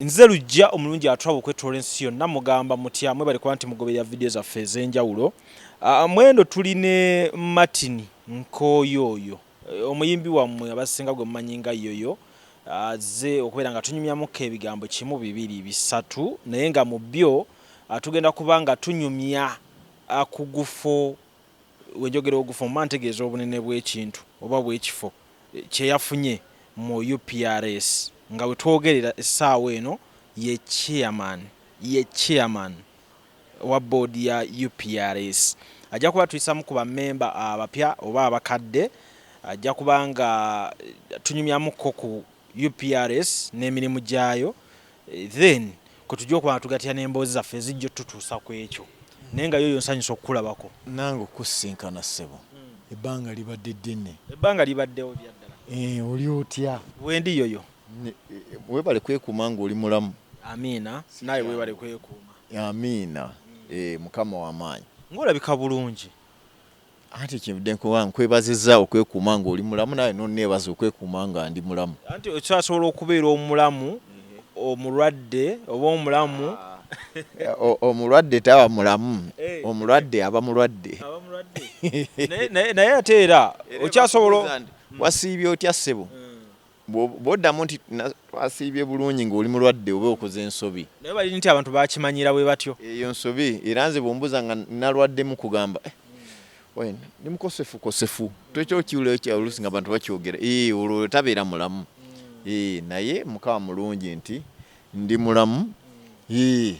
Nze lujja omulungi atwaba okwetoola ensi yonna mugamba mutya mwebale kuba nti mugoberera vidiyo zaffe ez'enjawulo ah, ah, mwendo tuli ne Martin Nkooyo oyo eh, omuyimbi wammwe abasinga gwe mumanyi nga yoyo azze ah, okubeera nga tunyumyamuko ebigambo kimu bibiri bisatu naye nga mu byo tugenda kuba nga tunyumya ku gufo wenjogera ogufo mba ntegeeza obunene bw'ekintu oba bw'ekifo kye yafunye mu UPRS nga we twogerera essaawa eno ye Chairman ye Chairman wa Board ya UPRS. Ajja kuba tuyisamu ku ba memba abapya oba abakadde, ajja kuba nga tunyumyamu ko ku UPRS n'emirimu gyayo. then kwetujja okuba nga tugatira n'emboozi zaffe ezijja otutuusa ku ekyo naye nga yoyo nsanyusa okukulabako nange okukusinkana ssebo hmm. ebbanga libadde ddene ebbanga libaddewo byaddala eh, oli otya wendi yoyo eh, webale kwekuuma nga oli mulamu amiina naye webale kwekuuma amiina hmm. eh, mukama wamaanyi ngaolabika bulungi anti kyenvudde nkuwa nkwebaziza okwekuuma ng'oli mulamu naye n'onneebaza okwekuuma nga ndi mulamu anti okyasobola okubeera omulamu omulwadde oba omulamu omulwadde taba mulamu eh. omulwadde aba mulwadde naye ate era okyasobola wasiibye otya ssebo hmm. Bw'oddamu nti twasiibye bulungi ng'oli mulwadde oba okoze nsobi. Naye bali nti abantu baakimanyira bwe batyo. Eyo nsobi era nze bw'ombuuza nga nalwaddemu nkugamba eh oyo ndi mukosefukosefu. Ekyo okiwulira otya oluusi ng'abantu bakyogera? Ee eh, olwo tabeera mulamu. Ee eh, naye Mukama mulungi nti ndi mulamu. Ee. Eh.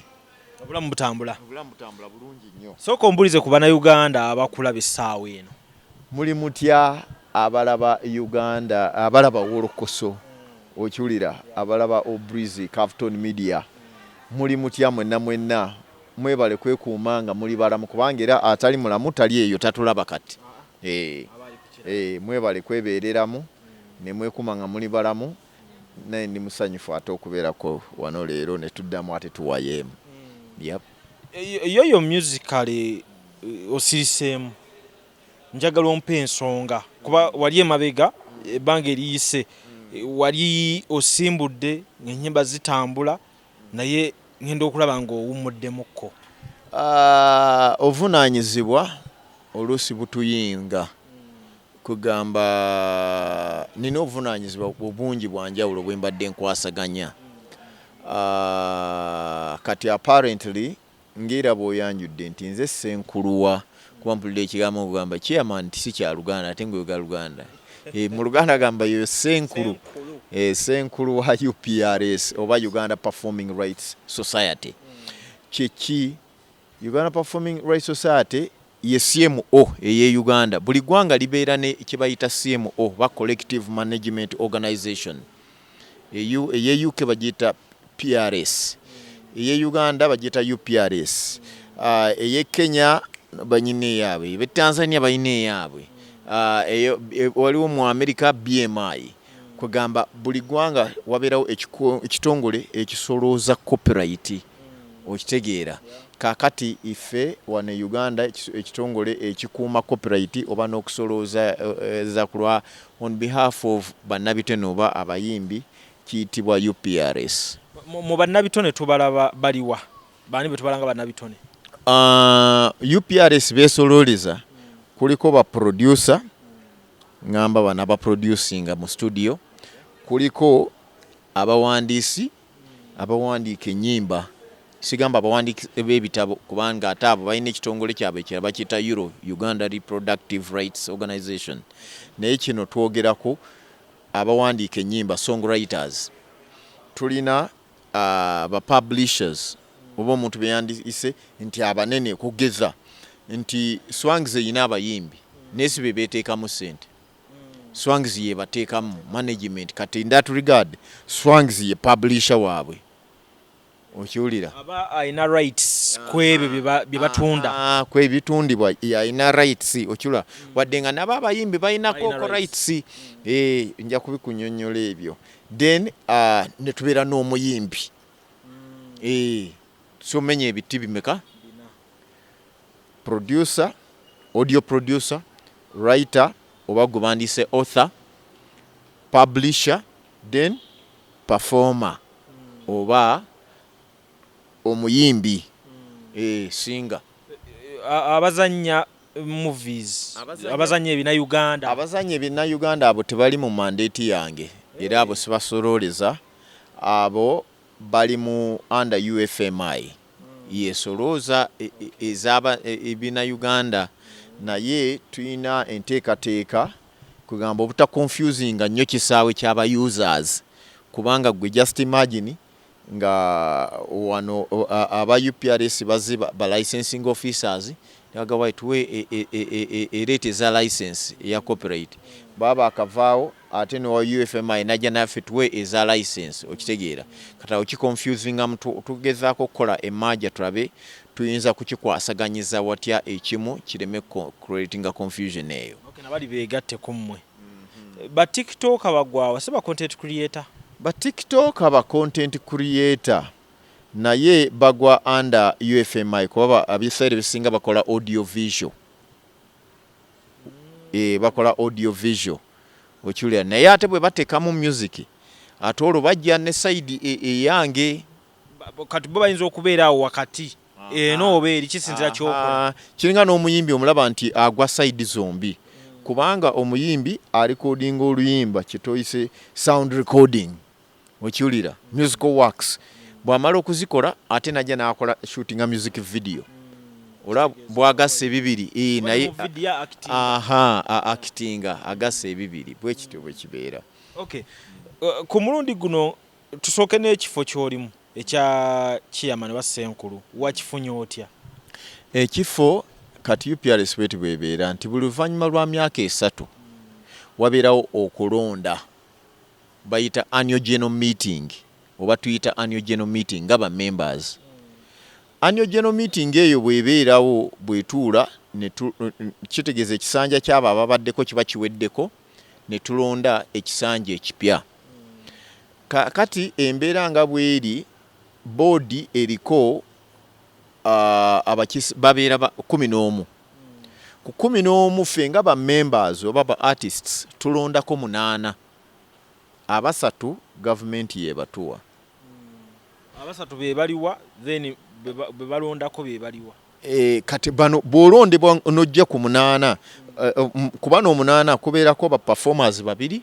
Obulamu butambula. Obulamu butambula bulungi nnyo. Sooka ombuulize ku Bannayuganda abakula b'essaawa eno. Muli mutya abalaba Uganda abalaba wolokoso okiwulira abalaba Obrizi Cavton Media muli mutya mwenna mwenna mwebale kwekuuma nga muli balamu kubanga era atali mulamu tali eyo tatulaba kati eeh eeh mwebale kwebeereramu ne mwekuuma nga muli balamu naye ndi musanyufu ate okubeerako wano leero ne tuddamu ate tuwayeemu yep. Yoyo musically osiriseemu njagala ompe ensonga kuba wali emabega ebbanga eriyise wali osimbudde enyimba zitambula naye ngenda okulaba nga owummuddemukko. Obuvunaanyizibwa oluusi butuyinga. Kwegamba nina obuvunanyizibwa obungi bwanjawulo bwembadde nkwasaganya kati apparently ngeera bwoyanjudde nti nze ssenkuluwa kuba mpulira ekigambo ngogamba chairman nti sikyaluganda ate ngoyogera luganda eh, mu luganda gamba yoyo ssenkulu eh, ssenkulu wa uprs oba uganda performing rights society kyeki uganda performing rights society Ye CMO ey'e Uganda. Buli ggwanga libeera ne kye bayita CMO oba Collective Management Organization. Eyu, ey'e UK bagiyita PRS. Ey'e Uganda bagiyita UPRS. Uh, ey'e Kenya banyina eyaabwe. Be Tanzania balina eyaabwe. Uh, eyo, e, waliwo mu Amerika BMI. Kwegamba buli ggwanga wabeerawo ekitongole ekisolooza copyright. Okitegeera. Kaakati, ffe wano e Uganda, ekiso, ekitongole ekikuuma copyright oba n'okusolooza, za ku lwa, on behalf of, bannabitone oba abayimbi, kiyitibwa UPRS. Mu, mu bannabitone tubalaba bali wa? Baani be tubala nga bannabitone? Uh, UPRS beesolooleza, kuliko ba producer, ngamba bano abaproducinga mu studio, kuliko abawandiisi, Abawandiika ennyimba, sigamba abawandiiki b'ebitabo kubanga ate abo balina ekitongole kyabwe ekirala bakiyita URO, Uganda Reproductive Rights Organization, naye kino twogerako abawandiika ennyimba, song writers, tulina ba publishers oba omuntu be yandiyise nti abanene okugeza nti Swangz erina abayimbi naye si be beeteekamu ssente. Swangz yebatekamu management kati in that regard Swangz ye publisher wabwe okiwulira aba ayina rights kwebyo byebatunda kwebitundibwa ayina rights okilula wadde nga nabo abayimbi bayinako ko rights eh, nja kubikunyonyola ebyo then uh, netubeera n'omuyimbi mm. eh, somenya ebiti bimeka Producer, audio producer, writer oba gwebandiyise author, publisher then performer oba omuyimbi eeh singer. Abazanya movies, abazanya ebina Uganda. Abazanya ebina Uganda abo tebali mu mandate yange era abo sibasolooleza abo bali mu under UFMI. yesolooza ezaba ebina Uganda naye tuyina enteekateeka kwegamba obuta confusinga nnyo kisaawe kyaba users kubanga gwe just imagine nga wano aba UPRS bazze ba licensing officers nebaga why tuwe e, e, e, e, e rate eza license eya copyright baba akavaawo ate ne wa UFMI najja naffe tuwe eza license okitegeera kati awo kiconfusinga mu tugezaako okukola emaaja tulabe tuyinza kukikwasaganyiza watya ekimu kireme creatinga confusion eyo okay, nabali begatte ku mmwe mm -hmm. ba tiktok bagwawa si ba content creator ba tiktok ba content creator naye bagwa under UFMI kuba abisaire bisinga bakola audio visual eh, bakola audio visual okiwulira naye ate bwe bateekamu music ate olwo bajja ne sayidi e, eyange e, kati bo bayinza okubeera awo wakati eno oba eri kisinzira kyokola kiringa n'omuyimbi omulaba nti agwa sayidi zombi kubanga omuyimbi alikodinga oluyimba kyetoyise sound recording okiwulira musical works bwamala okuzikola ate najja nakola shootinga music video ola bwagasa ebibiri eh, naye akitinga agasa ebibiri bwekityo bwekibeera okay. uh, ku mulundi guno tusooke n'ekifo kyolimu ekya kiyama ne basenkulu wakifunye otya ekifo kati uprs bweti bwebeera nti buli luvannyuma lwa myaka esatu wabeerawo okulonda bayita annual general meeting oba tuyita annual general meeting nga ba members annual general meeting eyo bwebeerawo bwetuula kitegeeza ekisanja kyabo ababaddeko kiba kiweddeko netulonda ekisanja ekipya kakati embeera nga bweri boodi eriko uh, abakisi babeera kumi n'omu ku kumi n'omu ffe nga ba members oba ba artists tulondako munaana Abasatu gavumenti yebatuwa. Abasatu bebaliwa then bebalondako bebaliwa. Kati bano bwolondebwa nojja ku munaana kubano omunaana kubeerako ba performers babiri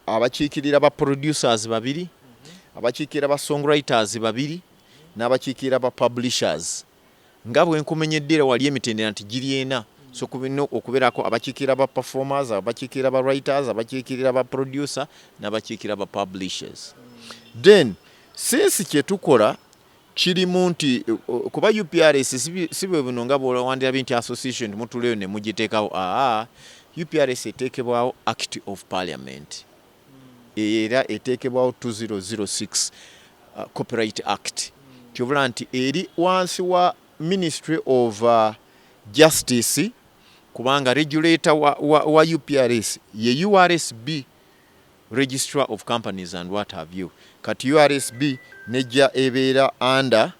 abakiikirira ba producers babiri abakiikirira ba songwriters babiri n'abakiikirira ba publishers. Nga bwe nkumenyedde era wali emitendera nti giri ena, so kulina okubeerako abakiikirira ba performers, abakiikirira ba writers, abakiikirira ba producer n'abakiikirira ba publishers. Then since kye tukola kirimu nti kuba UPRS si bwe buno nga bw'owandirabye nti association mutuleyo ne mugiteekawo, aa UPRS eteekebwawo Act of Parliament. eyo era eteekebwawo 2006 uh, copyright act tyobula nti eri wansi wa ministry of uh, justice kubanga regulator wa, wa, wa uprs ye ursb registrar of companies and what have you kati ursb nejja ebeera under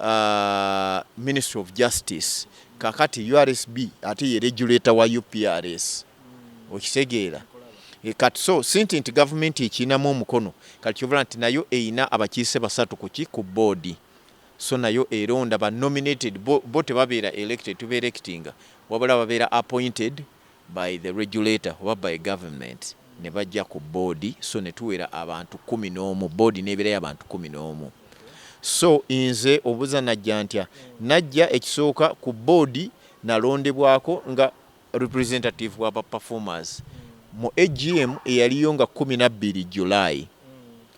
uh, ministry of justice kakati ursb ate ye regulator wa uprs okitegeera e, kati so sinti nti gavumenti ekinamu omukono kati kyobola nti nayo eyina abakiise basatu kuki ku boodi so nayo eronda ba nominated bo, bo tebabeera elected tuba electinga wabula babeera appointed by the regulator oba by government ne bajja ku board so ne tuwera abantu kumi n'omu board n'eberayo abantu kumi n'omu so nze obuza najja ntya najja ekisooka ku board nalondebwako nga representative wa ba performers mu AGM eyaliyo nga kumi na bbiri July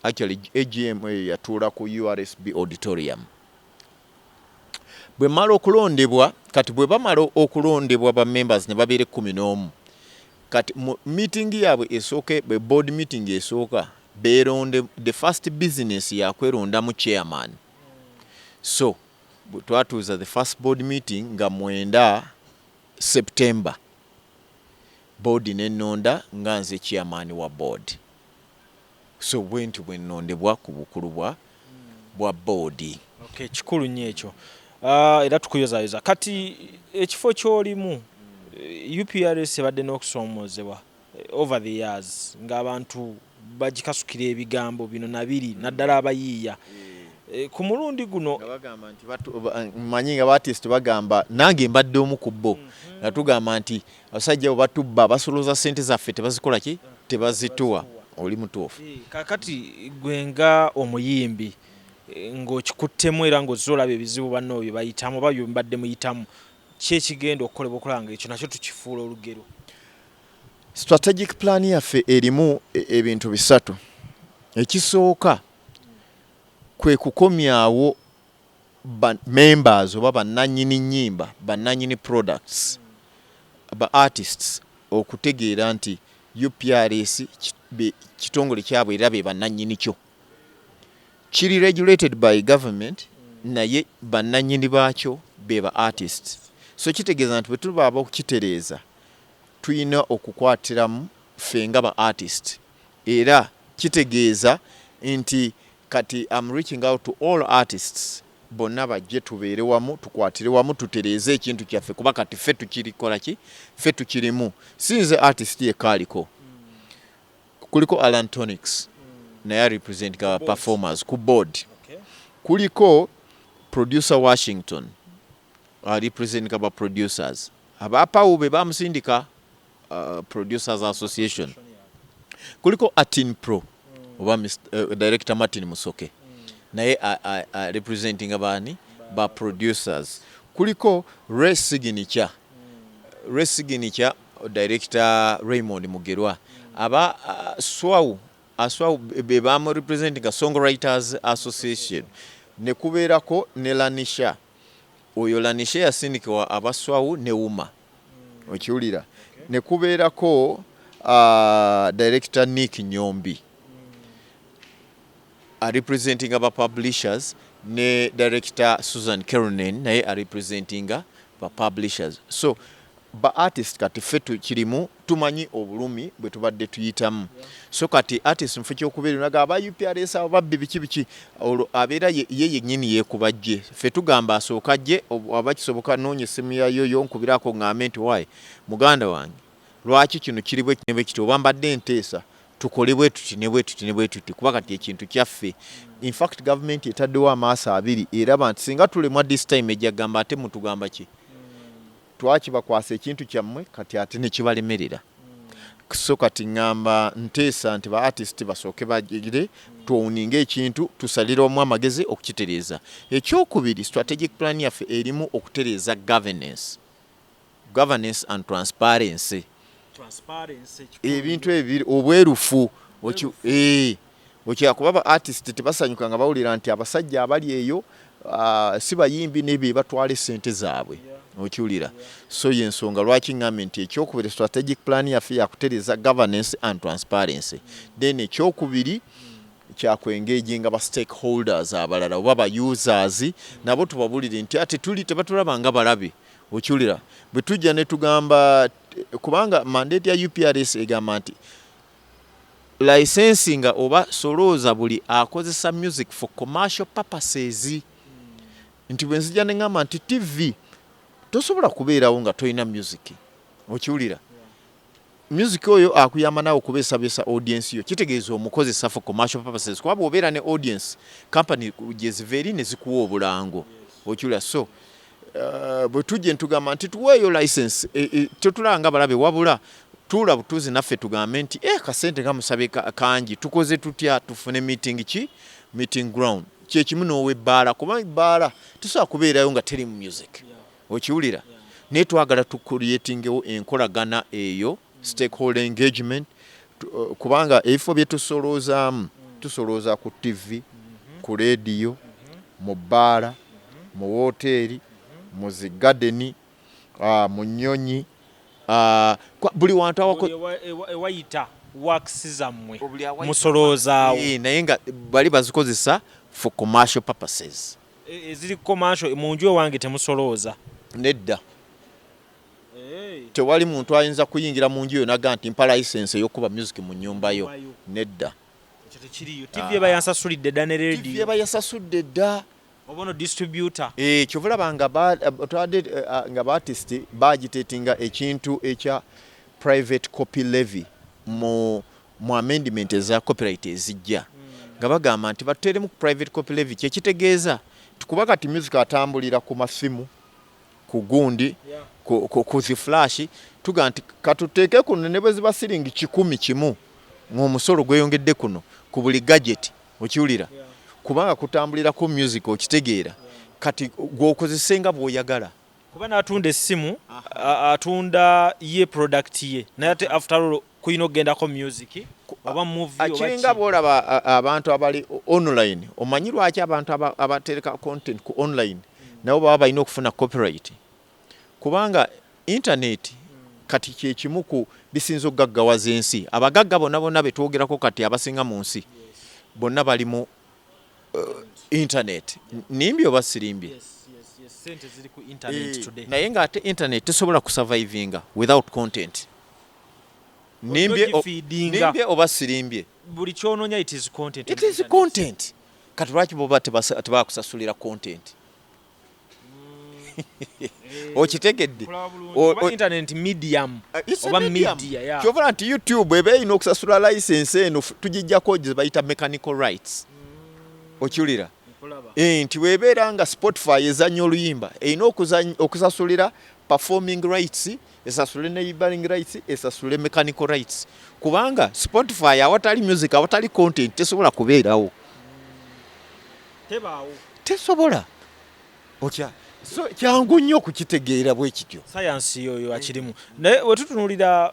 actually AGM eyo yatuula ku URSB auditorium bwe mala okulondebwa kati bwe bamala okulondebwa ba members ne babeera ekkumi n'omu kati meeting yaabwe esooke bwe board meeting esooka beeronde the first business yakwerondamu chairman so twatuuza the first board meeting nga mwenda september board nenonda nga nze chairman wa board So bwentyo bwennondebwa ku bukulu bwa bwa boodi. Okay, kikulu nnyo ekyo uh, era tukuyozayoza. Kati ekifo ky'olimu eh, UPRS ebadde n'okusoomoozebwa eh, over the years ng'abantu bagikasukira ebigambo bino na biri naddala abayiiya eh, ku mulundi guno manyi nga batisiti bagamba nange mbadde omu ku bo mhm. nga tugamba nti Abasajja abo batubba, basolooza ssente zaffe tebazikola ki? Tebazituwa. Oli mutuufu. Eh, kakati gwe nga omuyimbi eh, ng'okikuttemu era ng'ozze olaba ebizibu banno bye bayitamu oba bye mbadde muyitamu, ki ekigenda okukolebwa okulaba ng'ekyo nakyo tukifuula olugero? Strategic plan yaffe erimu e, ebintu bisatu. Ekisooka kwe kukomyawo ba members oba bannanyini nnyimba, bannanyini products, ba artists okutegeera nti UPRS kitongole kyabwe era be bannanyini kyo. Kiri regulated by government naye bannanyini baakyo be ba artists. So kitegeeza nti bwe tuba ab'okukitereeza tulina okukwatiramu ffe nga ba artists era kitegeeza nti Kati am reaching out to all artists bonna bajje tubeere wamu tukwatire wamu tutereeze ekintu kyaffe kuba kati ffe tukirikolaki ffe tukirimu si nze artist yekka aliko kuliko alan tonics naye arepresenting our performers ku board kuliko producer washington arepresenting our producers abapawube bamusindika uh, producers association kuliko atin pro oba uh, director martin musoke naye representinga baani ba producers kuliko re signature re signature director raymond mugerwa aba uh, swau aswau be bamu representinga song writers association nekubeerako ne lanisha oyo lanisha yasindikibwa abaswau ne uma okiwulira ne kubeerako uh, director Nick Nyombi arepresentinga ba publishers ne director Susan Keronen naye arepresentinga ba publishers so ba artist kati ffe tukirimu Tumanyi obulumi bwetubadde tuyitamu so kati artist mufo kyokubeera naga aba UPRS abo babbi biki biki olwo abeera ye yenyini yekuba jje ffe tugamba asooke ajje waba kisoboka noonya essimu ya yoyo onkubiraako ongambe nti owaye muganda wange lwaki kino kiri bwekiti ne bwekiti oba mbadde nteesa tukole bwetuti ne bwetuti ne bwetuti kuba kati ekintu kyaffe infact gavumenti etaddewo amaaso abiri eraba nti singa tulemwa this time ejja gamba ate mutugamba ki twakibakwasa ekintu kyammwe kati ate nekibalemerera so kati ŋŋamba nteesa nti ba artist basooke bagire twowuninga ekintu tusalira omu amagezi okukitereeza ekyokubiri strategic plan yaffe erimu okutereeza governance governance and transparency ebintu ebiri obwerufu eh, okyakuba ba artist tebasanyuka nga bawulira nti abasajja abali eyo ah, si bayimbi nebyo batwala esente zaabwe okiwulira so yensonga lwaki ngambe nti ekyokubiri strategic plan yaffe yakutereza governance and transparency then ekyokubiri kyakwengeginga ba stakeholders abalala oba ba users nabo tubabulire nti ate tuli tebatulaba nga balabe Okiwulira bwe tujja ne tugamba kubanga mandate ya UPRS egamba nti licensinga oba solooza buli akozesa music for commercial purposes nti bwe nzija ne ngamba nti TV tosobola kubeerawo nga tolina music okiwulira Music oyo akuyamba nawe okubesabyesa audience yo kitegeeza omukozesa for commercial purposes kuba bwobeera ne audience company gyeziva eri nezikuwa obulango okyula so uh, bwetujje ntugamba nti tuweeyo license e, e, tetulaba nga balabe wabula tuula butuuzi naffe tugambe nti e, kasente kamusabe kangi tukoze tutya tufune meeting ki meeting ground kyekimu n'owebbaala kuba ebbaala tesobola kubeerayo nga teri mu music yeah. okiwulira naye twagala tu creatingewo enkolagana eyo stakeholder engagement uh, kubanga ebifo bye tusoloozaamu tusolooza ku ttivi ku leediyo mu bbaala mu wooteeri mu zi gadeni uh, mu nnyonyi uh, buli wantu ewayita works zammwe musoloozaawo eh, naye nga bali bazikozesa for commercial purposes E, eziri commercial mu nju ewange temusolooza? Nedda. Tewali muntu ayinza kuyingira mu nju yo naga nti mpa license eyokuba music mu nyumba yo. Nedda. Ekyo tekiriyo. TV eba yansasulidde dda ne radio. TV eba yasasudde dda. Obono distributor. Eh, kyovula banga ba twade eh, ah, nga ba artist bagitetinga ekintu ekya private copy levy mu mu amendment eza copyright ezijja nga bagamba nti batuteeremu ku private copy levy kye kitegeeza kuba kati music atambulira ku masimu ku gundi ku zi flash tuga nti katuteeke kuno ne bwe ziba siringi kikumi kimu ng'omusolo gweyongedde kuno ku buli gadget okiwulira kubanga kutambulirako music okitegeera kati gw'okozese nga bw'oyagala kuba n'atunda essimu atunda ye product ye naye ate after all kuyina okugendako music oba movie kiringa bwolaba abantu abali online omanyi lwaki abantu abatereka content ku online nabo baba balina okufuna copyright kubanga internet kati kyekimu ku bisinza okugaggawaza ensi abagagga bona bona betwogerako kati abasinga mu nsi bonna bali mu uh, internet nimbye oba sirimbye eh, naye nga ate internet tesobola kusurvivinga without content nimbye nimbye oba sirimbye buli kyononya it is content it is content kati lwaki boba tebakusasulira content mm. okitegedde kyovula nti youtube eba erina okusasula license eno tugijjako gyebayita mechanical rights mm. okiwulira eh, nti webeera nga spotify ezanya oluyimba erina okusasulira performing rights esasule neighboring rights esasule mechanical rights kubanga spotify awatali music awatali content tesobola kubeerawo tebaawo tesobola otya so kyangu nnyo okukitegeera bwe kityo sayansi yoyo akirimu naye wetutunulira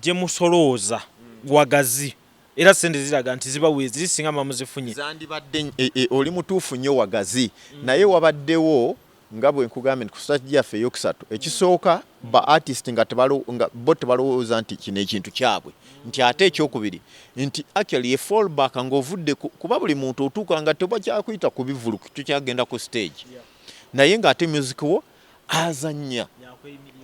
gye musolooza wagazi era sente ziraga nti ziba weeziri singa mamuzifunye zandibadde e, e, oli mutuufu nnyo wagazi naye wabaddewo Nga bwe nkugambye nti ku stage yaffe ey'okusatu, ekisooka ba artist nga bo tebalowooza nti kino ekintu kyabwe nti ate eky'okubiri nti actually ye fall back nga ovudde ku, kuba buli muntu otuuka nga tebakyakuyita ku bivulu tokyagenda ku stage naye nga ate music wo azannya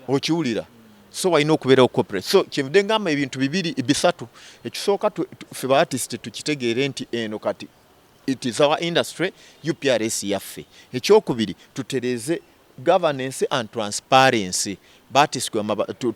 okiwulira so walina okubeerawo corporate so kyenvudde ngamba ebintu bibiri bisatu ekisooka ffe ba artist tukitegeere nti eno kati It is our industry, UPRS yaffe. Ekyokubiri tutereze governance and transparency batiswe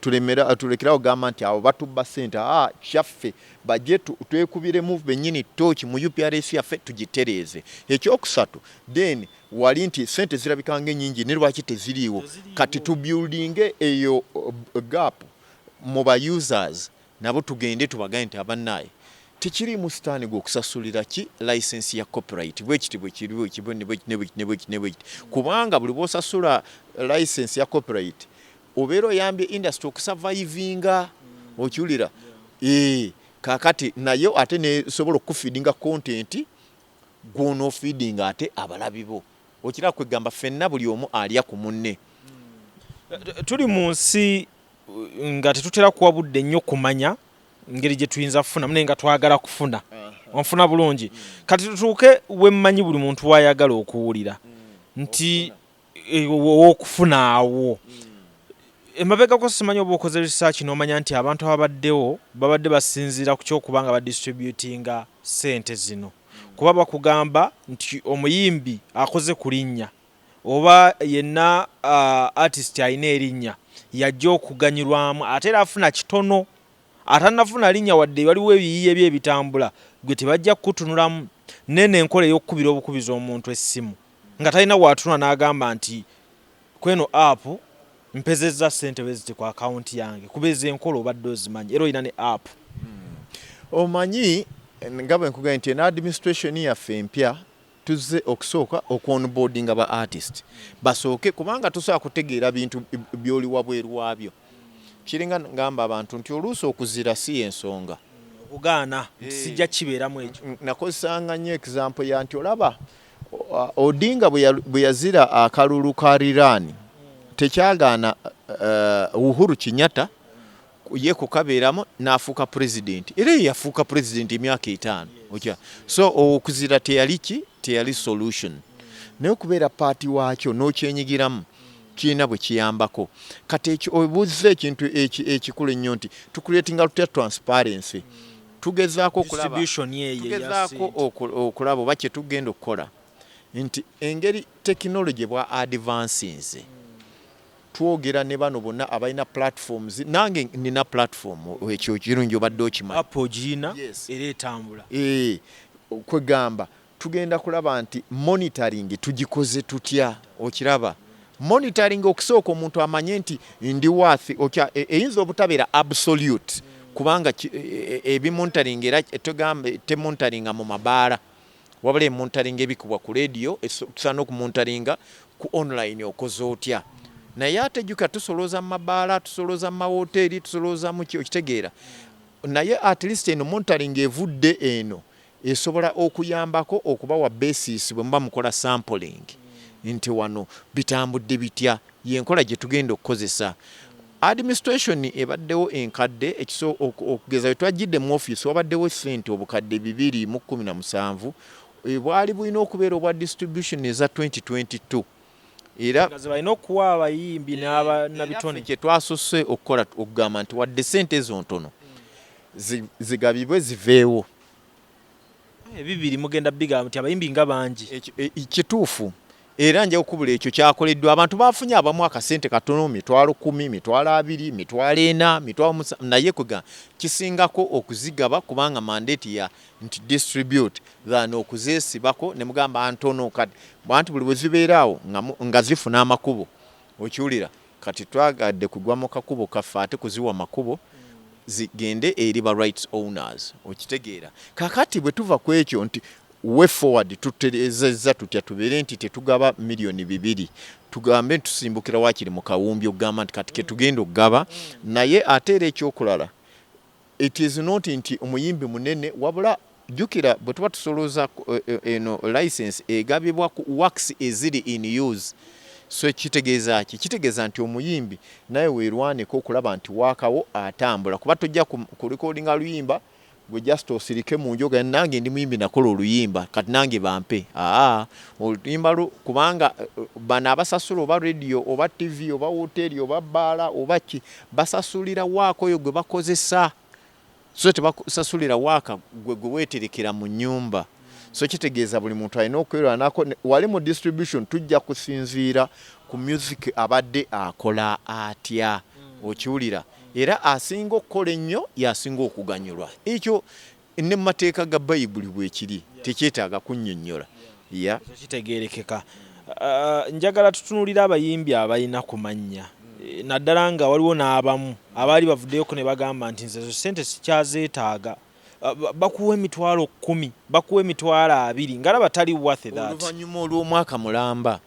tulemera tulekerawo gamba nti abo batubba sente a kyaffe baje twekubire mu benyini torch mu UPRS yaffe tugitereeze ekyokusatu then wali nti sente zirabika nga enyingi ne lwaki teziriiwo kati tubuildinge eyo uh, gap mu ba users Nabo tugende tubagaye nti abanaye tekiliimu sitaani gwe okusasulira ki license ya copyright bwekiti bwekiri bwekiti bwekiti nebwekiti nebwekiti nebwekiti kubanga buli bwosasula license ya copyright obeera oyambye industry okusavaivinga okiwulira eeh kakati naye ate nesobola okukufeedinga content gwonofeedinga ate abalabibo okiraba kwegamba fenna buli omu alya ku munne tuli munsi nga tetutera kuwa budde nnyo kumanya ngeri gye tuyinza kufunamu naye nga twagala kufuna onfuna bulungi kati tutuuke wemmanyi buli muntu wayagala okuwulira nti eh, owokufuna awo emabegako simanyi oba okoze research nomanya nti abantu ababaddewo babadde basinziira ku kyokuba nga badistributinga sente zino kuba bakugamba nti omuyimbi akoze ku linnya oba yenna artist alina erinnya yajja okuganyulwamu ate era afuna kitono atanafuna linnya wadde waliwo ebiyiiye bye ebitambula gwe tebajja kukutunulamu neno enkola eyokukubira obukubizi omuntu essimu nga talina watunula nagamba nti kweno app mpezezza ssente bweziti ku account yange kuba ezo enkola obadde ozimanyi era olina ne app hmm. omanyi nga bwenkugambye nti eno administration yaffe empya Tuzze okusooka okwonboardinga ba artist basooke kubanga tosobola kutegeera bintu by'oli wabweru waabyo. Kiringa ngamba abantu nti oluusi okuzira si y'ensonga. Okugaana nti sijja kukibeeramu ekyo. Nakozesanga nnyo example ya nti olaba Odinga bwe yazira akalulu ka riraani tekyagaana Uhuru Kinyatta ye kukabeeramu n'afuuka pulezidenti era ye yafuuka pulezidenti emyaka etaano okya so okuzira teyali ki teyali solution naye okubeera paati waakyo n'okyenyigiramu kirina bwe kiyambako kati ekyo obuzza ekintu ekikulu ennyo nti tukuleetinga lutya transparency tugezaako okulaba oba kye tugenda okukola nti engeri tekinologi bwa advansinze twogera ne bano bonna abalina platforms nange nina platform ekyo kirungi obadde okimanyi app ogirina yes. era etambula e, kwegamba tugenda kulaba nti monitoring tugikoze tutya okiraba monitoring okusooka omuntu amanye nti ndi worth okya e, eyinza obutabeera absolute kubanga e, e, ebimonitoring era tegamba temonitoringa mu mabaala Wabula emontaringa ebikubwa ku leediyo etusaana okumontaringa ku online okoze otya? Naye ate jjukira tusolooza mu mabaala, tusolooza mu mawooteeri, tusolooza mu ki okitegeera. Naye at least eno montaringa evudde eno esobola okuyambako okubawa basis bwe muba mukola sampling nti wano bitambudde bitya. Y'enkola gye tugenda okukozesa. Administration ebaddewo enkadde ekiso okugeza we twajjidde mu office wabaddewo ssente obukadde bibiri mu kkumi na musanvu ebwali bulina okubeera obwa distribution eza 2022 era balina okuwa abayimbi n'ababitone kye twasose okukola okugamba nti wadde ssente ezo ntono zigabibwe ziveewo ebibiri mugenda bigaaba nti abayimbi nga bangi e, kituufu era nja okubula ekyo kyakoleddwa abantu bafunye abamu akasente katono mitwalo kumi mitwalo abiri mitwalo ena mitwalo musa naye kwega kisingako okuzigaba kubanga mandate ya nti distribute than okuzesibako ne mugamba ntono kati bantu buli bwe zibeeraawo nga zifuna amakubo okiwulira Kati twagadde kugwa mu kakubo kaffe ate kuziwa makubo zi gende eri ba rights owners okitegeera. Kakati bwe tuva kwekyo nti way forward tuterezezza tutya tubeere nti tetugaba million bibiri tugambe nti tusimbukira wakiri mu kawumbi okugamba nti kati ketugenda okugaba naye ate era ekyokulala It is not nti omuyimbi munene wabula jukira bwetuba tusolooza eh, eh, eno license egabibwa ku works eziri in use so kitegeeza ki kitegeeza nti omuyimbi naye werwaneko okulaba nti wakawo atambula kuba tojja ku recording aluyimba gwe just osirike mu njoga nange ndi muyimbi nakola oluyimba kati nange bampe aa oluyimba lu kubanga eh, bano abasasula oba radio oba tv oba woteri oba baala oba ki Basasulira waaka oyo gwe bakozesa so tebasasulira waaka gwe gwe weterekera mu nyumba. So kitegeeza buli muntu alina okwerwanako. Wali mu distribution tujja kusinziira ku music abadde akola atya. Okiwulira? Era asinga okukola ennyo y'asinga okuganyulwa. Ekyo. Ne mu mateeka ga Bayibuli bwekiri, tekyetaaga kunnyonnyola. Ya. Ekyo kitegeerekeka. Uh, njagala tutunuulire abayimbi abalina ku mannya naddala nga waliwo n'abamu abaali bavuddeyoko ne bagamba nti nze zo ssente sikyazeetaaga bakuwa emitwalo kkumi bakuwa emitwalo abiri ngalaba tali wathe that oluvannyuma olw'omwaka mulamba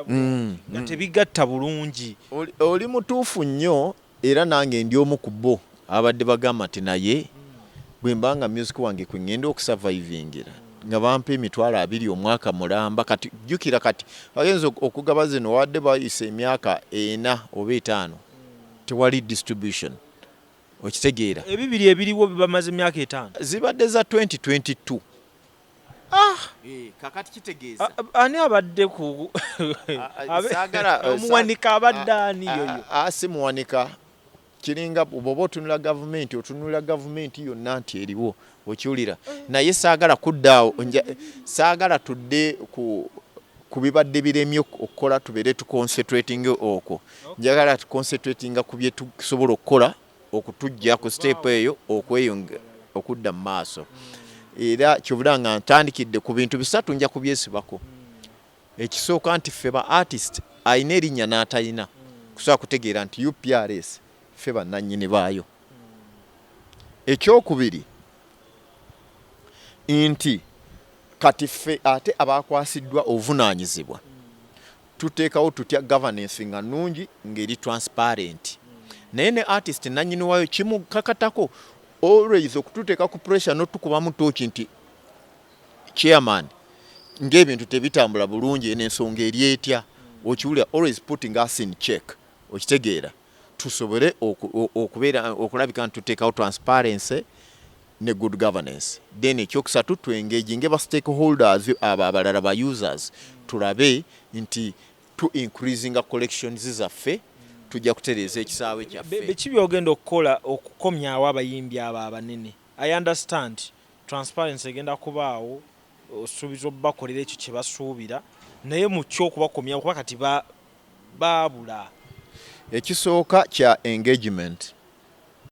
mm, nga mm. tebigatta bulungi oli mutuufu nnyo Era nange ndi omu ku bo ababadde bagamba nti naye bwe mba nga myuziki wange kwe ng'enda okusavayivingira nga bampa emitwalo abiri omwaka mulamba kati jjukira kati bagenze okugaba zino wabadde bayise emyaka ena oba etaano tewali distribution okitegeera. Ebibiri ebiriwo bamaze emyaka etaano? Zibadde za twenty twenty two Ah! Eh, kakati kitegeeza ani abadde ku omuwanika abadde ani yoyo si muwanika kiringa bwoba otunula gavumenti otunula gavumenti yonna nti eriwo okiwulira naye saagala kuddaawo saagala tudde ku ku bibadde biremye okukola tubeere tuconcentratinga okwo njagala tuconcentratinga ku byetusobola okukola okutujja ku siteepu eyo okweyonge okudda mu maaso era kyobula nga ntandikidde ku bintu bisatu nja kubyesibako ekisooka nti ffe ba artist alina erinnya n'atalina kusobola kutegeera nti uprs ffe bannannyini baayo ekyokubiri nti kati ffe ate abaakwasiddwa obuvunaanyizibwa Tuteekawo tutya governance nga nungi nga eri transparent. Naye ne artist nanyini wayo kimukakatako always okututeeka ku pressure notukubamu tooki nti chairman ng'ebintu tebitambula bulungi eno ensonga eri etya okiwulira always putting us in check okitegeera. tusobole okubeera okulabika nti tuteekawo transparency ne good governance then ekyokusatu tu engage nge ba stakeholders abo abalala ba users tulabe nti tu increasinga collections zaffe tujja kutereeza ekisaawe kyaffe biki byogenda okukola okukomyawo abayimbi abo abanene i understand transparency egenda kubaawo osuubiza obubakolera ekyo kyebasuubira naye mu kyokubakomyawo kuba kati ba baabula. Ekisooka kya engagement.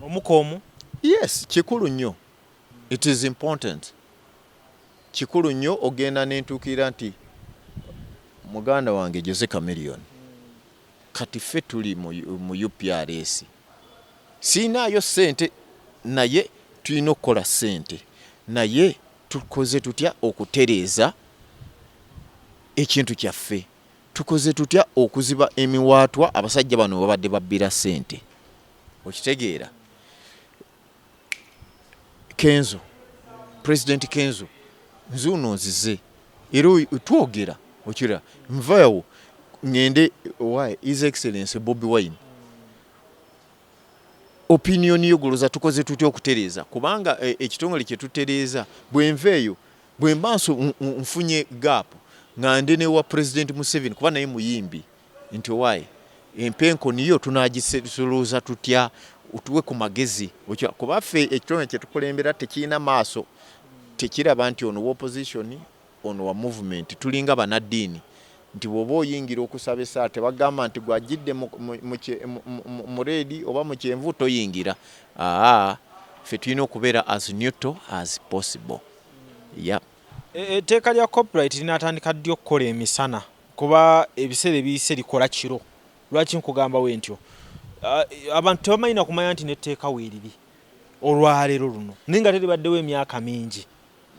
Omu koomu. Yes kikulu nnyo it is important kikulu nnyo ogenda nentuukirira nti muganda wange Jose Chameleon kati ffe tuli mu UPRS siinaayo ssente naye tulina okukola ssente naye tukoze tutya okutereeza ekintu kyaffe. Tukoze tutya okuziba emiwaatwa abasajja bano webabadde babbira ssente? Okitegeera Kenzo, President Kenzo nzuuno nzize era twogera okira nvawo ngende wa His Excellency Bobi Wine opinion yo goloza tukoze tutya okutereeza kubanga eh, ekitongole kye tutereeza bwenva eyo Bwemba nfunye gap nga ndi ne wa president Museveni kuba naye muyimbi nti owaye empenkoni yo tunagisuluuza tutya otuwe ku magezi kuba ffe ekitone kye tukulembera tekirina maaso tekiraba nti ono wa opposition ono wa movement tulinga banaddiini nti bw'oba oyingira okusaba essaala tebagamba nti gw'ajjidde mu reedi oba mu kyenvu toyingira aa ffe tulina okubeera as neutral as possible. yep. E, etteeka lya copyright linatandika ddi okukola emisana kuba ebiseera ebiyise likola kiro lwaki nkugamba we ntyo abantu tebamanyi nakumanya nti netteeka weeriri olwaleero luno naye nga teribaddewo emyaka mingi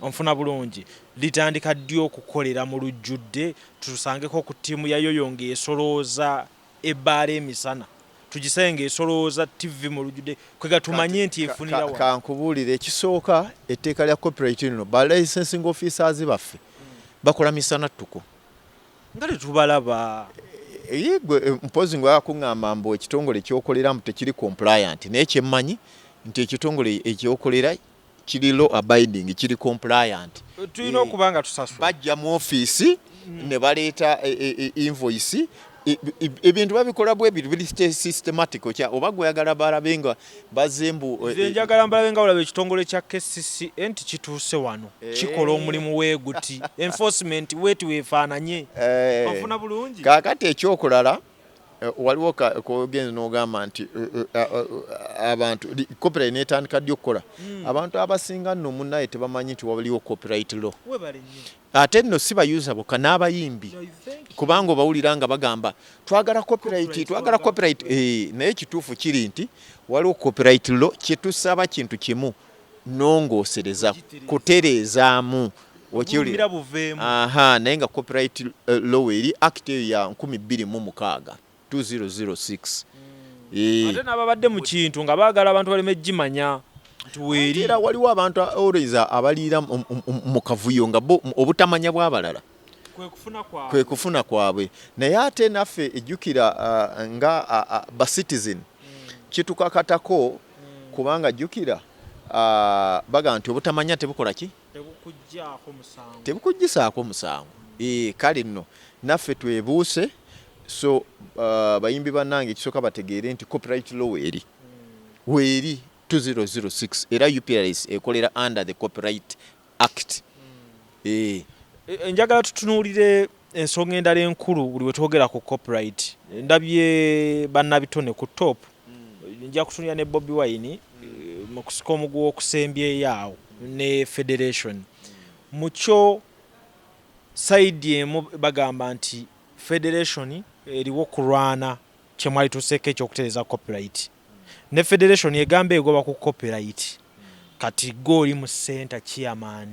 onfuna bulungi litandika ddi okukolera mu lujjudde tutusangeko ku ttiimu yayoyo ngaesolooza ebbaala emisana tugisaye ng'esolooza ttivvi mu lujjudde kwe gatumanye nti efunira wano. Kankubuulire ekisooka etteeka lya copyright lino ba licensing officers baffe bakola misana ttuku. Nga tetubalaba. Eh, ye gwe eh, mpozi nga yakuŋŋamba mbu ekitongole kyokolera mbu tekiri compliant naye kyemmanyi nti ekitongole ekyokolera Kiri law abiding, kiri compliant. Tulina okuba nga tusasula. Bajja mu office ne baleeta e, e, e, invoice ebintu babikola bwebiri biri systematic okya oba gweyagala balabe nga bazze mbu eh, nze eh, njagala mbalabe nga olaba ekitongole kya kcca nti kituuse wano eh. kikola omulimu weguti enforcement wetu wefaananye ofuna bulungi kakati ekyokulala Eh, waliwo kogenda nogamba nti eh, eh, abantu copyright netandika ddi okukola hmm. abantu abasinga nno munaye tebamanyi nti waliwo copyright law ate nno si bayuza boka n'abayimbi kubanga obawulira nga bagamba twagala copyright twagala copyright naye ekituufu kiri nti waliwo copyright law kyetusaba kintu kimu nongosereza kutereezaamu okiwulira aha naye nga copyright eh, law eri act eyo ya 2006 2006 eh. ate n'ababadde mu kintu nga baagala abantu baleme gimanya era waliwo abantu always abaliira mu kavuyo nga bo obutamanya bw'abalala kwe kufuna kwabwe naye ate naffe ejjukira ah, nga ah, ah, ba citizen kitukakatako kubanga jjukira ah, bagamba nti obutamanya tebukola ki tebukuggisaako musango eh, kale nno naffe twebuuse so ah, bayimbi bannange ekisooka bategeere nti copyright law eri weeri 2006 era uprs ekolera under the copyright act eh e, njagala tutunuulire ensonga endala enkulu buli wetwogera ku copyright ndabye bannabitone ku top mm. nja kutunira ne bobi wine eh, mu kusika omuguwa okusembyeyo awo ne federation mukyo saidi emu bagamba nti federation eriwo kulwana kyemwali tuseeko ekyokutereza copyright ne federation egamba egoba ku copyright kati gwe oli mu center chairman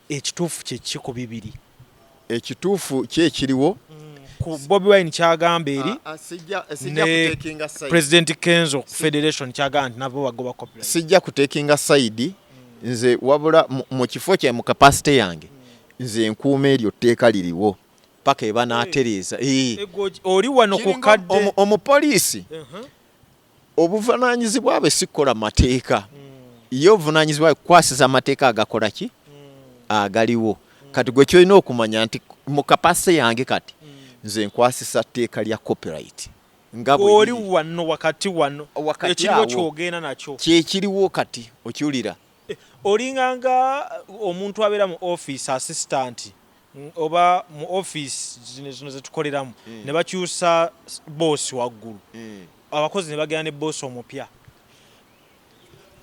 ekituufu kyeki ku bibiri? Ekituufu ki ekiriwo? Ku Bobi Wine kyagamba eri ah, ah, ne president Kenzo ku federation kyagamba nti nabo bagoba copyright. Sijja kutekinga side nze wabula mu kifo kya mu capacity yange nze nkuuma eryo tteeka liriwo. paka ebanatereeza oli wano ku kadde omupoliisi obuvunanyizibwa bwe sikukola mateeka hmm. ye obuvunanyizibwa kukwasiza amateeka agakola ki hmm. agaliwo hmm. kati gwe kyolina okumanya nti mu kapase yange kati nze nkwasisa tteeka lya copyright ngaoli wano wakati wano ekiriwo kyogenda nakyo kyekiriwo kati okiwulira eh, olinganga omuntu abeera mu office assistant oba mu office zino zino zetukoleramu mm. ne bakyusa boss waggulu mm. abakozi ne bagenda ne boss omupya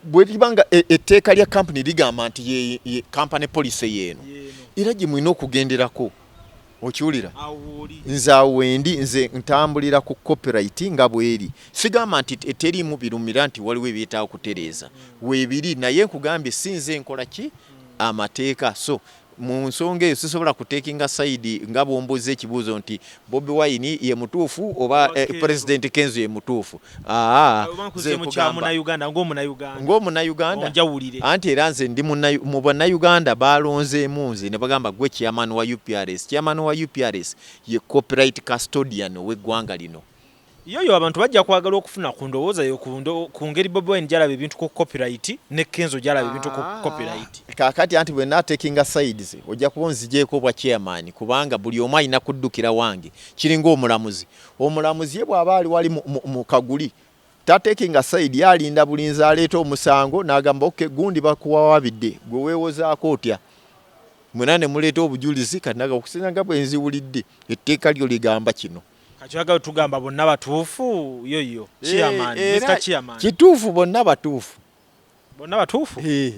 bwebanga e, etteeka lya kampuni ligamba nti ye kampani policy yeeno era gye mulina okugenderako okiwulira nze awo wendi nze ntambulira ku copyright nga bweri sigamba nti eteriimu birumira nti waliwo ebyetaaga okutereeza mm. webiri naye nkugambye si nze nkola ki mm. amateeka so Mu nsonga eyo sisobola ku takinga side nga bwombuuzza ekibuuzo nti Bobi Wine ye mutuufu oba eh, President Kenzo ye mutuufu. Aa, nze nkugamba ng'omunayuganda anti era nze ndi mu bannayuganda baalonzeemu nze ne bagamba gwe chairman wa UPRS. Chairman wa UPRS ye copyright custodian ow'eggwanga lino. Yoyo abantu bajja kwagala okufuna ku ndowooza yo ku ngeri Bobi Wine gyalaba ebintu ku copyright ne Kenzo gyalaba ebintu ku ah. copyright. Kaakati anti bwe naatekinga sides ojja kuba onzigyeko obwa chairman kubanga buli omu alina kuddukira wange kiringa omulamuzi. Omulamuzi ye bw'aba ali wali mu kaguli tatekinga side ye alinda bulinzi aleeta omusango n'agamba oke gundi bakuwawabidde gwe weewozaako otya mwena ne muleeta obujulizi kati naga okusinga nga bwe nziwulidde etteeka lyo ligamba kino. Kakyoyaga tugamba bonna batuufu yo yo eh, chairman eh, Mr chairman kituufu bonna batuufu bonna batuufu eh.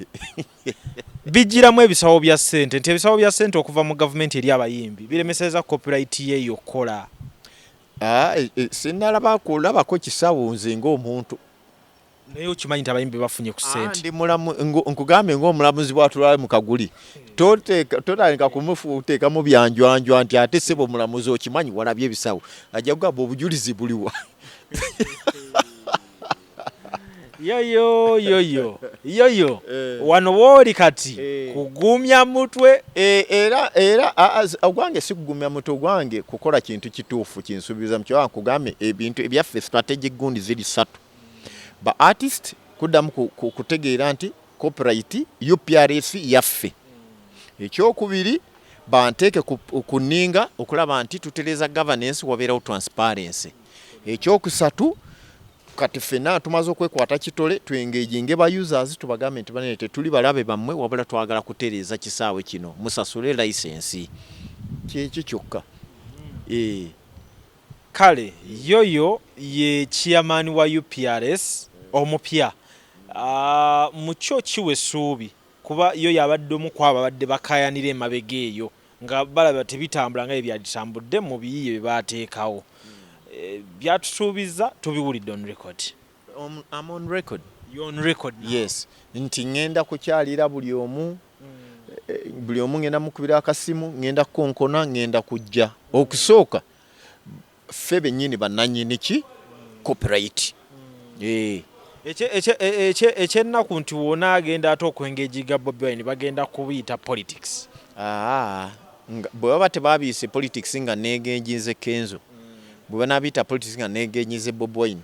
bijjiramu ebisawo bya ssente nti ebisawo bya ssente okuva mu gavumenti eri abayimbi biremeseza copyright ye yokukola ah, sinnalaba kulabako kisawo nze ng'omuntu naye okimanyi nti abayimbi bafunye ku ah, sente ndi mulamu nkugambye ng'omulamuzi bwatulabe mu kaguli totandika kumuteekamu byanjwanjwa nti ate sebo omulamuzi okimanyi walabye ebisawo ajja kugamba obujulizi buliwa yoyo yoyo yoyo eh. wano wooli kati eh. kugumya mutwe eh, era era ogwange si kugumya mutwe ogwange kukola kintu kituufu kinsuubiza mukyoba nkugambye ebintu ebyaffe strategic gundi ziri satu ba artist kuddamu kutegeera nti copyright uprs yaffe ekyokubiri banteeke ku nninga okulaba nti tutereeza governance wabeerawo transparency ekyokusatu kati fena tumaze okwekwata kitole tuengejinge ba users tubagambe nti banene tetuli balabe bammwe wabula twagala kutereeza kisaawe kino musasule licensi kyekyo kyokka ee eh. Kale yoyo ye chairman wa uprs omupya mu kyo kiwa esuubi kuba yo yabadde omu kwabo ababadde bakayanira emabega eyo nga balaba tebitambula nga byebyaditambudde mu biyiye byebateekawo. Byatusuubizza tubiwulidde on record. Um, I'm on record. You're on record now. Yes. Nti ngenda kukyalira buli omu mm. eh, buli omu ngenda mukubira akasimu ngenda kukonkona ngenda kujja okusooka ffe bennyini bannanyini ki copyright mm. eh. ekyennaku nti wona agenda ate okwengeji ga bobi wine bagenda kubiyita politics ah, bwe baba tebabiyise politics nga negenjinze kenzo mm. bwe banabiyita politics nga negenyize bobi wine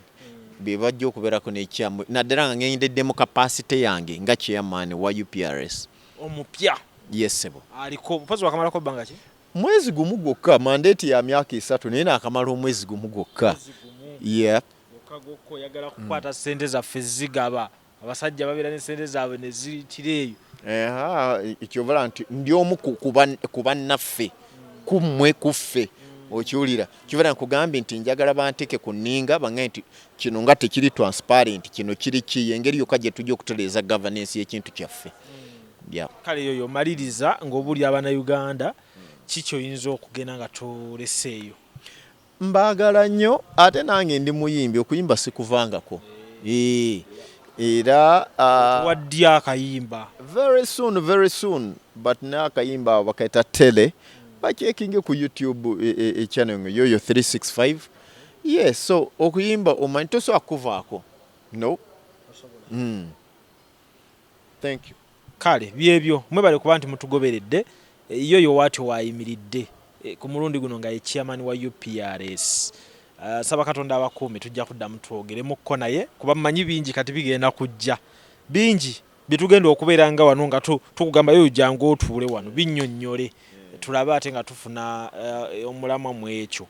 bebajja okuberako nekyamu naddala nga ngendeddemu kapasite yange nga chairman wa uprs omupya yesebo aliko mupazi wakamalako bbanga ki mwezi gumu gwokka mandate ya myaka esatu naye nakamala omwezi gumu gwokka yep. okagokoyagala kukwata mm. sente zaffe zigaba abasajja babeera ne sente zaabwe ne ziyitira eyo ekyobola nti ndi omu ku bannaffe ku mmwe ku ffe okiwulira kibeera nkugambye nti njagala banteke ku nninga bange nti kino nga tekiri transparent kino kiri ki engeri yokka gye tujja okutereeza governance y'ekintu kyaffe kale yoyo omaliriza ng'obuli abana uganda kikyoyinza okugenda nga toleseeyo Mbaagala nnyo ate nange ndi muyimbi okuyimba sikuvangako era uh, waddi akayimba very soon very soon but naye akayimba bakaita tele bakyekinge ku youtube e, e, e channel nga yoyo 365 yes so okuyimba omanyi tosobola kuvaako no mm. Thank you. Kale byebyo mwebale kuba nti mutugoberedde ye oyo watyo wayimiridde eh, ku mulundi guno nga ye chairman wa UPRS Uh, saba katonda abakuume tujja kuddamu twogeremukko naye kuba mmanyi bingi kati bigenda kujja bingi byetugenda okubeera nga wano nga tukugamba yoyo jangu otuule wano binnyonnyole tulabe ate nga tufuna uh, omulamwa mu ekyo